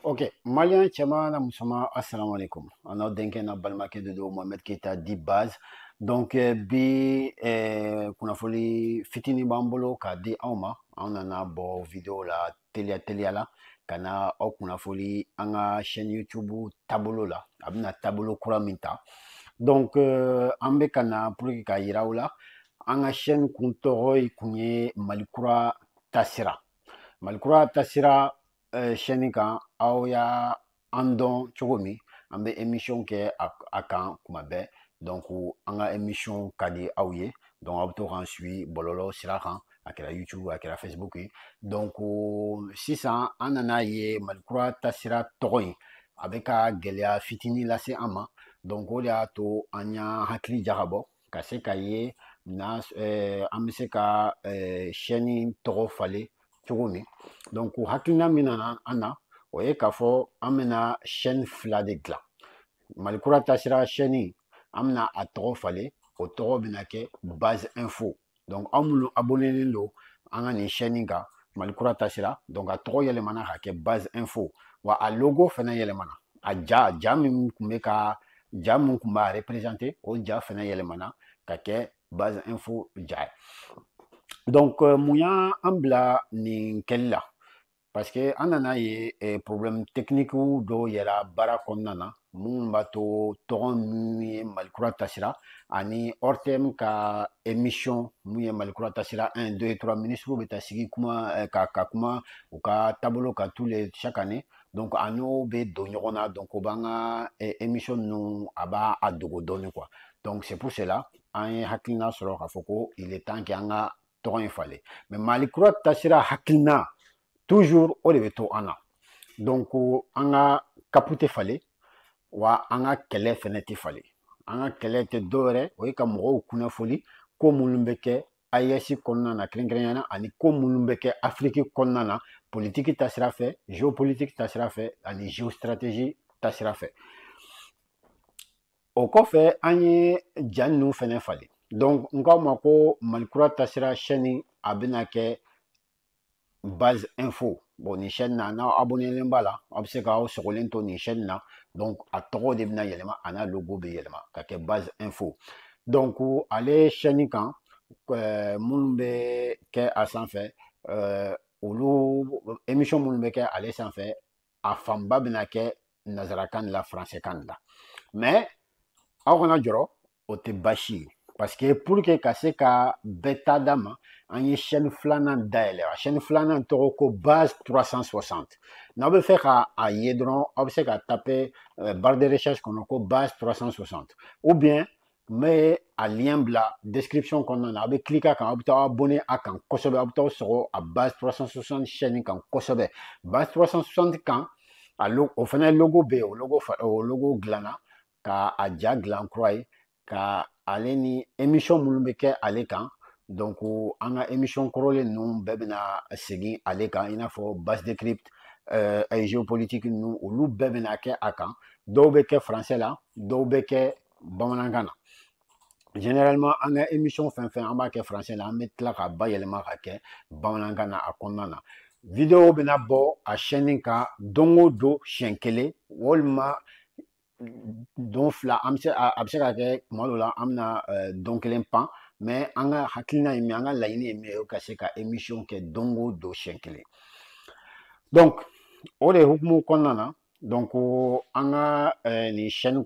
ok maliyɛn cɛman n'a musoman asalaamaaleykum an n'aw denkɛ n'aw balimakɛ de don mohamɛd keyita dit base donc eh, bi eh, kunnafoni fitinin b'an bolo k'a di aw ma an nana bɔ video la teliya teliya la ka na aw kunnafoni an ka chaîne youtube taabolo la a bɛna taabolo kura min ta donc eh, an bɛ ka na pour que k'a yira aw la an ka chaîne kun tɔgɔ ye kun ye malikura tasira malikura tasira chaîne eh, kan aw y'an dɔn cogo min an bɛ emisiyɔn kɛ a kan kuma bɛɛ donc an ka emisiyɔn ka di aw ye donc aw bɛ to k'an suivi bɔlɔlɔ sira kan a kɛra youtube a kɛra facebook ye donc sisan an nana a ye malikura tasira tɔgɔ in a bɛ ka gɛlɛya fitinin lase an ma donc o de y'a to an y'an hakili jagabɔ ka se k'a ye na eh, an bɛ se ka eh, chaîne tɔgɔ falen cogo min donc hakilina min nana an na o ye k'a fɔ an bɛna chaîne fila de dilan mali kura taasira chaîne an bɛna a tɔgɔ falen o tɔgɔ bɛna kɛ base info donc aw minnu abonnelen don an ka nin chaîne kan mali kura tasira donc a tɔgɔ yɛlɛmana ka kɛ base info wa a logo fɛnɛ yɛlɛmana a ja ja min kun bɛ ka ja min kun b'a représenter o ja fɛnɛ yɛlɛmana ka kɛ base info ja ye donc euh, mun y'an bila nin kɛli la parce que an nana a ye eh, problème technique dɔw yera baara kɔnɔna na minnu b'a to tɔgɔ min ye malikura tasira ani ortm ka émission min ye malikura tasira 1 2 3 ministres bɛ taa sigi kuma eh, ka ka kuma u ka taabolo kan tous les chaque année donc a n'o bɛ don ɲɔgɔn na donc o b'an ka eh, émission ninnu a b'a dogo dɔɔnin quoi donc c'est pour cela an ye hakilina sɔrɔ k'a fɔ ko il est temps que an ka tɔgɔ in falen mais mali kura tasira hakilina toujours o de bɛ to an na donc an ka cap tɛ falen wa an ka kɛlɛ fɛnɛ tɛ falen an ka kɛlɛ tɛ dɔwɛrɛ o ye ka mɔgɔw kunnafoni ko minnu bɛ kɛ AES kɔnɔna na kɛrɛnkɛrɛnnenya na ani ko minnu bɛ kɛ Afiriki kɔnɔna na politiki tasira fɛ geopolitiki tasira fɛ ani geostrategie tasira fɛ o kɔfɛ an ye ja ninnu fɛnɛ falen donc n k'aw ma ko malikura tasira chaîne a bɛna kɛ base info bon nin chaîne na n'aw abonnelen b'a la aw bɛ se k'aw sogolen to nin chaîne na donc a tɔgɔ de bɛna yɛlɛma a n'a logo bɛ yɛlɛma ka kɛ base info donc ale chaîne kan euh, minnu bɛ kɛ a sanfɛ euh, olu émission minnu bɛ kɛ ale sanfɛ a fanba bɛna kɛ nazarakan de la faransɛkan de la mɛ aw kana jɔrɔ o tɛ baasi ye parce que pour que ka se ka bɛɛ ta d'a ma an ye chaîne filanan dayɛlɛ a chaîne filanan tɔgɔ ko base 360 n'aw bɛ fɛ ka a ye dɔrɔn aw bɛ se ka taper euh, barre de recherche kɔnɔ ko base 360 ou bien n bɛ a lien bila description kɔnɔna na a bɛ cliquer a kan aw bɛ taa abonné a kan kosɛbɛ aw bɛ taa sɔgɔ a base 360 chaîne kan kosɛbɛ base 360 kan a logo o fana logo bɛ yen o logo o logo dilanna ka a ja dilan kura ye ka ale ni émission minnu bɛ kɛ ale kan donc an ka émission kɔrɔlen ninnu bɛɛ bɛna segin ale kan i n'a fɔ base décrypte euh, géopolitique ninnu olu bɛɛ bɛna kɛ a kan dɔw bɛ kɛ français la dɔw bɛ kɛ bamanankan na généralement an ka émission fɛn fɛn an b'a kɛ français la an bɛ tila k'a bayɛlɛma ka kɛ bamanankan na a kɔnɔna na video bɛna bɔ a chaîne kan don o don siɲɛ kelen walima don fila an bɛ se a bɛ se ka kɛ tuma dɔ la an bɛna don kelen pan mɛ an ka hakilina ye min an ka laɲini ye min ye ka se ka émission kɛ don o don siɲɛ kelen donc o de hukumu kɔnɔna na donc an ka nin chaîne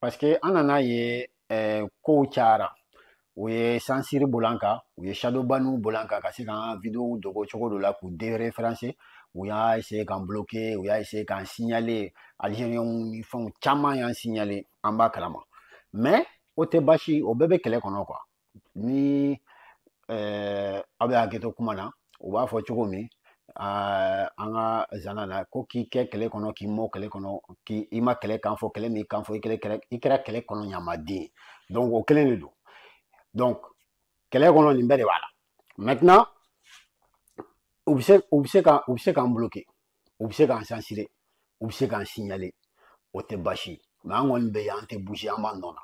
paseke an nan'a ye eh, kow cayara u ye sansiri bil'an kan u ye shadowbaniw bil'an kan ka se k'an videow dogo cogo dɔ la k'u dereferanse u y'a essaye k'an bloke u y'a essaye k'an signale algérienw ni fɛnw caman y'an signale an b'a kalama mais o tɛ baasi o bɛɛ bɛ kɛlɛ kɔnɔ quoi ni eh, aw bɛ hakɛto kuma na u b'a fɔ cogo min eh, an ka zana na ko k'i kɛ kɛlɛ kɔnɔ k'i mɔ kɛlɛ kɔnɔ k'i i ma kɛlɛ kan fɔ kɛlɛ m'i kan fɔ i kɛlɛ kɛlɛ i kɛra kɛlɛ kɔnɔ ɲamaden donc o kelen de don donc kɛlɛ kɔnɔ nin bɛɛ de b'a la maintenant u bɛ se u bɛ se ka u bɛ se k'an bloquer u bɛ se k'an sansire u bɛ se k'an siɲale o tɛ baasi ye mɛ an kɔni bɛ yan an tɛ buze an b'an nɔ na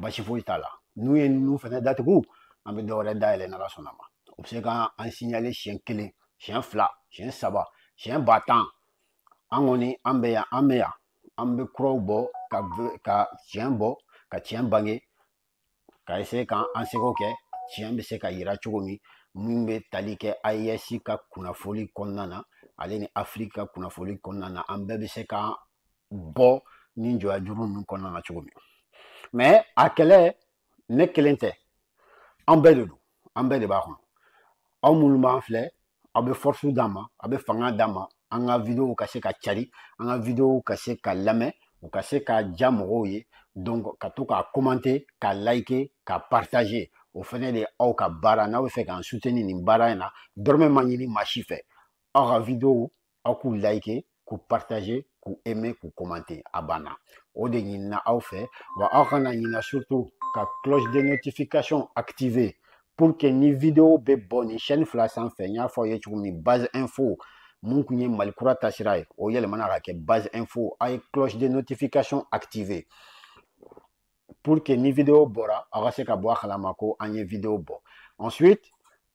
baasi foyi t'a la n'u ye ninnu fɛnɛ datugu an bɛ dɔwɛrɛ dayɛlɛ n'ala sɔnna ma u bɛ se k'an an siɲale siɲɛ kelen siɲɛ fila siɲɛ saba siɲɛ ba tan an kɔni an bɛ yan an bɛ yan an bɛ kuraw bɔ ka ka tiɲɛ bɔ ka tiɲɛ bange ka eseye ka an seko kɛ tiɲɛ bɛ se ka yira cogo min min bɛ tali kɛ AES ka kunnafoli kɔnɔna na ale ni Afiriki ka kunnafoli kɔnɔna na an bɛɛ bɛ se ka bɔ ni jɔya juru ninnu kɔnɔna na cogo min mɛ a kɛlɛ ne kelen tɛ an bɛɛ de don an bɛɛ de b'a kɔnɔ aw minnu b'an filɛ aw bɛ fɔrisu d'a ma aw bɛ fanga d'a ma an ka wideyow ka se ka cari an ka wideyow ka se ka lamɛn u ka se ka ja mɔgɔw ye donc ka to k'a komante k'a layike k'a partaze o fɛnɛ de aw ka baara n'aw bɛ fɛ k'an suteni nin baara in na dɔrɔmɛ ma ɲini maa si fɛ aw ka wideyow aw k'u like k'u partager k'u aimer k'u commenter a banna o de ɲinina aw fɛ wa aw kana ɲina surtout ka cloche de notification activer pour que ni video bɛ bɔ nin chaîne fila sanfɛ n y'a fɔ aw ye cogo min base info mun kun ye mali kura taasira ye o yɛlɛmana ka kɛ base info aw ye cloche de notification activer pour que ni video bɔra aw ka se ka bɔ a kalama ko an ye video bɔ ensuite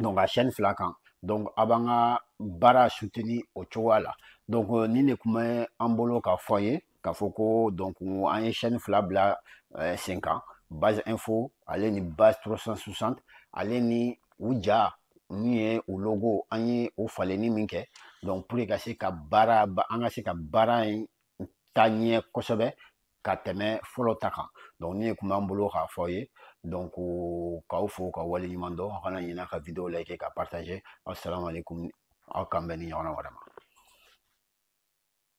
donc a chaîne fila kan donc a b'an ka baara soutenir o cogoya la donc euh, nin de kun bɛ an bolo ka fɔ ye k'a fɔ ko donc an ye chaîne fila bila euh, sen kan base info ale ni base 360 ale ni u ja min ye u logo an ye u falenni min kɛ donc pour ka se ka baara an ka se ka baara in taa ɲɛ kosɛbɛ ka tɛmɛ fɔlɔ ta kan donc nin de kun b'an bolo k'a fɔ ye donc k'aw fo k'aw waleɲuman dɔn aw kana ɲina ka video like ka partager assalamu alaikum aw k'an bɛn nin ɲɔgɔnna wɛrɛ ma